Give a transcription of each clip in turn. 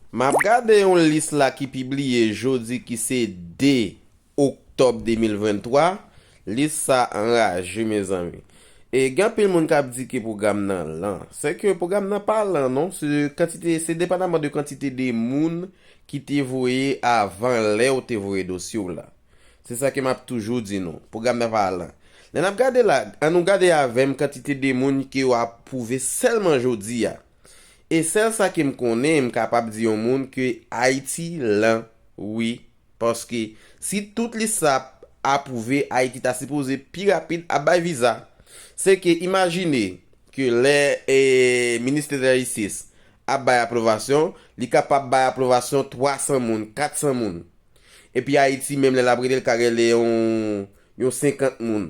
M ap gade yon lis la ki pibliye jodi ki se 2 oktòb 2023, lis sa anraje mezanmi. E gen anpil moun k ap di ke pwogram nan lan. Se ke pwogram nan pa lan non, se kantite, se depandaman de kantite de moun ki te voye avan lè ou te voye dosye w la. Se sa ke m ap toujou di nou, pwogram nan pa lan. Lè n ap gade la, an nou gade avè m kantite de moun ke yo apwouve sèlman jodi a. E sèl sa ke m konnen m kapab di yon moun ke Ayiti lan wi paske si tout lis sa ap apwouve Ayiti ta sipoze pi rapid ap bay viza se ke imajine ke lè Ministè de la Jistis ap bay apwovasyon li kapab bay apwovasyon 300 moun 400 moun epi Ayiti menm lè l ap rele l ka rele yon 50 moun.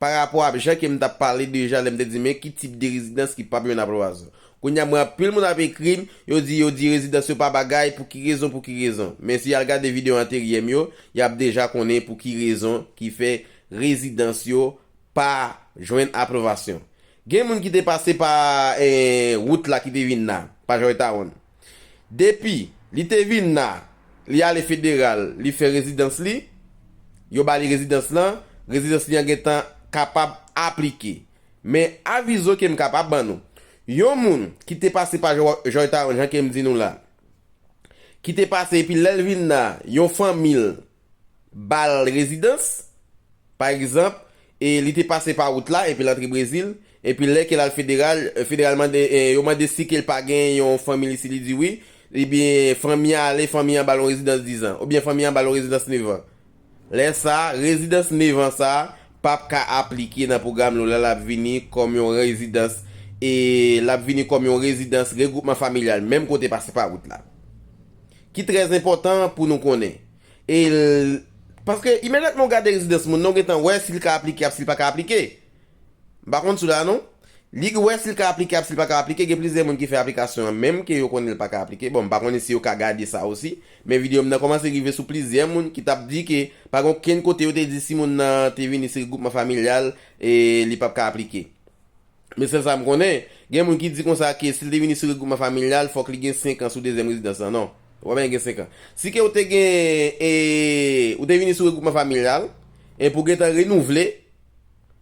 Pa rapò ap jan ke m tap pale deja lè m te di men ki tip de rezidans ki pap yon aploazon. Kounye a m wè anpil moun ap ekri m, yo di yo di rezidans yo pa bagay, pou ki rezon pou ki rezon. Men si y al gade videyo anteryè m yo, y ap deja konnen pou ki rezon ki fè rezidans yo pa jwenn aplovasyon. Gen moun ki te pase pa wout la ki te vin la, pa Joytown. Depi Li te vin la Li ale federal Li fè rezidans Li Yo ba Li rezidans lan Rezidans Li an gentan kapab aplike Men avizo ke m kapab ban nou Yon moun ki te pase pa Joytown jan ke m di nou la Ki te pase epi lè l vin la Yon fanmi l ba l rezidans, pa egzanp, e li te pase pa wout la epi l antre Brezil, epi lè ke l al federal, federal mande, yo mande si ke l pa gen yon fanmi li, si li di wi, ebyen fanmi an ale, fanmi an ba l yon rezidans dizan, oubyen fanmi an ba l yon rezidans nevan. Lè sa, rezidans nevan sa a p ap ka aplike nan pwogram nou la, l ap vini kòm yon rezidans, e l ap vini kòm yon rezidans regwoupman familyal menm kote pase pa wout la. Ki trè enpòtan pou nou konnen. E l Paske imedyatman ou gade rezidans moun nan, ou gen tan wè si l ka aplike ap si l pa ka aplike. M pa konn sou la non. Li k wè si l ka aplike ap si l pa ka aplike. Gen plizyè moun ki fè aplikasyon an menm ke yo konnen l pa ka aplike. Bon, m pa konnen si yo ka gade sa osi. Men videyo m nan kòmanse rive sou plizyè moun ki t ap di ke pa gen okenn kote yo te di si moun nan te vini sou regwoupman familyal e li p ap ka aplike. Men sèl sa m konnen, gen moun ki di konsa ke si l te vini sou regwoupman familyal fòk li gen 5 an sou dezyèm rezidans lan. Non. Ou pa bezwen gen 5 an. Si ke ou te gen e ou te vini sou regwoupman familyal, e pou gentan renouvle,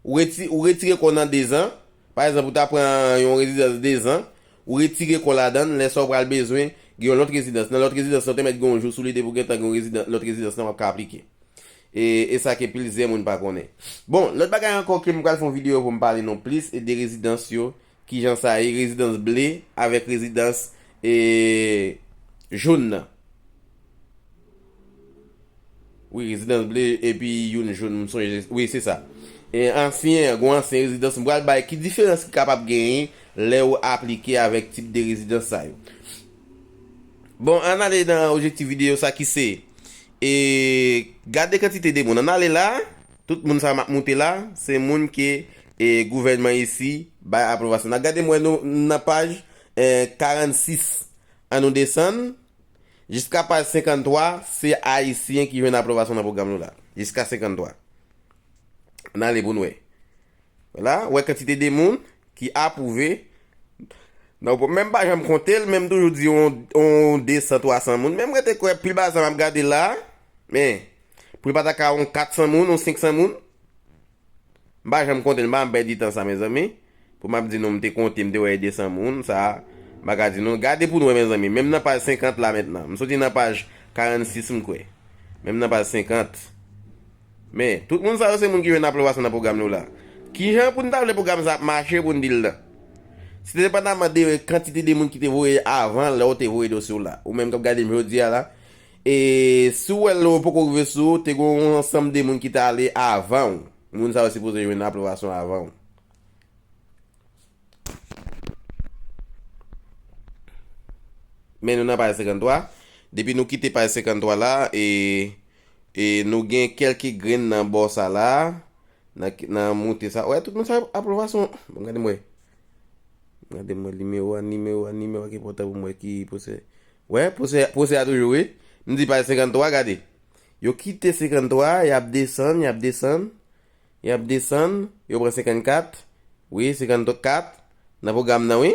ou reti ou retire kò w nan dezan, pa egzanp ou ta pran yon rezidans dezan, ou retire kò w ladan l, lè sa ou pral bezwen gen yon lòt rezidans. Nan lòt rezidans lan ou te mèt gen yon jou sou li depi ou gentan gen yon rezidan lòt rezidans lan w ap ka aplike. E e sa ke plizyè moun pa konnen. Bon, lòt bagay ankò ke m pral fè yon videyo pou m pale nou plis e de rezidans yo, kijan sa ye, rezidans ble avèk rezidans e joun nan. Wi, rezidans ble epi youn joun, m sonje, wi se sa. E ansyen, gwo ansyen rezidans, m pral bay ki diferans ki kapab genyen lè ou aplike avèk tip de rezidans sa yo. Bon, ann ale nan objektif videyo sa ki se. E gade kantite de moun an ale la, tout moun sa map moute la, se moun ke e gouvènman isi bay apwovasyon. Nan gade m wè nou m nan paj 46 an nou desann jiska paj 53 se ayisyen ki jwenn apwovasyon nan pwogram nou la jiska 53 an ale pou n wè la wè kantite de moun Ki apwouve, donk mwen menm pa janm konte l men m toujou di yon 200, 300 moun men m rete kwè pi ba sa m ap gade la a men pou l pa ta ka yon 400 moun, yon 500 moun? M pa janm konte l, m pa janm pèdi tan sa mezanmi pou m ap di nou m te konte m te wè e 200 moun sa m pa ka di nou. Gade pou nou wè mezanmi menm nan paj 50 la mentnan m soti nan paj 46 m kwè menm nan paj 50. Men, tout moun sa yo se moun ki jwenn apwobasyon nan pwogram nou la. Ki jan pou n ta vle pwogram sa ap mache pou n di l nan? Si te depandaman de kantite de moun ki te voye avan lè ou te voye dosye w la, ou menm k ap gade m jodi a la, e si w wè l ou poko rive sou, te gen yon ansanm de moun ki te ale avan ou. Moun sa yo sipoze jwenn apwobasyon avan ou. Men nou nan paj 53. Depi nou kite paj 53 la, e. E nou gen kelke grenn nan bò sa la, nan nan moute sa. Wè tout moun sa ap lwa son. Bon gade mwen. Gade mwen nimewo a, nimewo a, nimewo a ki pòtan pou mwen ki pwosè. Wè pwosè, pwosè a toujou wi. M di paj 53 gade. Yo kite 53, y ap desann, y ap desann, y ap desann, yo pran 54, wi 54 nan pwogram nan wi.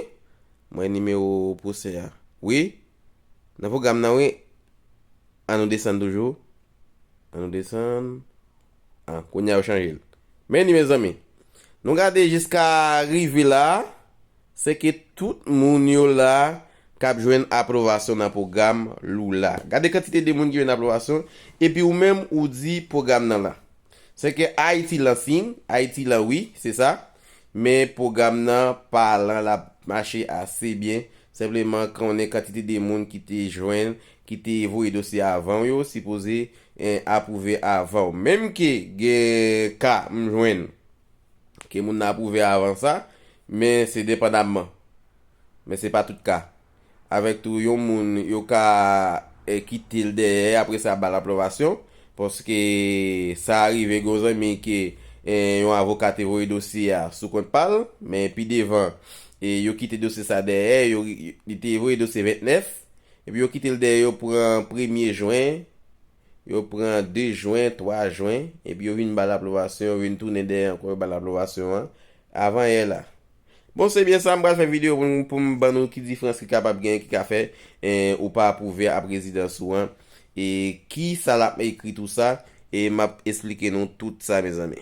Mwen nimewo pwosè a. Wi, Nan pwogram nan wi. An nou desann toujou. An nou desann. Ah kounya yo chanje l. Men li mezanmi. Nou gade jiska rive la a. Se ke tout moun yo la a k ap jwenn apwovasyon nan pwogram Lula. Gade kantite de moun ki jwenn apwovasyon. Epi ou menm ou di pwogram nan la. Se ke Ayiti lan fin. Ayiti lan wi. Se sa. Men pwogram nan pa lan lap mache ase byen, senpleman konnen kantite de moun ki te jwenn, ki te voye dosye avanw yo sipoze apwouve avanw. Menm ke gen ka m jwenn ke moun nan apwouve avan sa, men se depandamman. Men se pa tout ka. avèk tou yon moun yo ka kitel dèyè apre sa bal apwovasyon paske sa rive gen yon zanmi ke yon avoka te voye dosye a sou kont pal men pi devan yo kite dosye sa dèyè yo li te voye dosye 29 epi yo kitel dèyè yo pran premye jwen yo pran 2 jwen 3 jwen epi yo vin bal apwovasyon yo vin tounen dèyè ankò yo bal apwovasyon an avan yè la. Bon se byen sa m pral fè video pou m pou m ban nou ki difrans ki kapab gen ki ka fè ou pa apwouve ap rezidans ou an e ki sa lap ekri tou sa e map esplike nou tout sa mezanmi.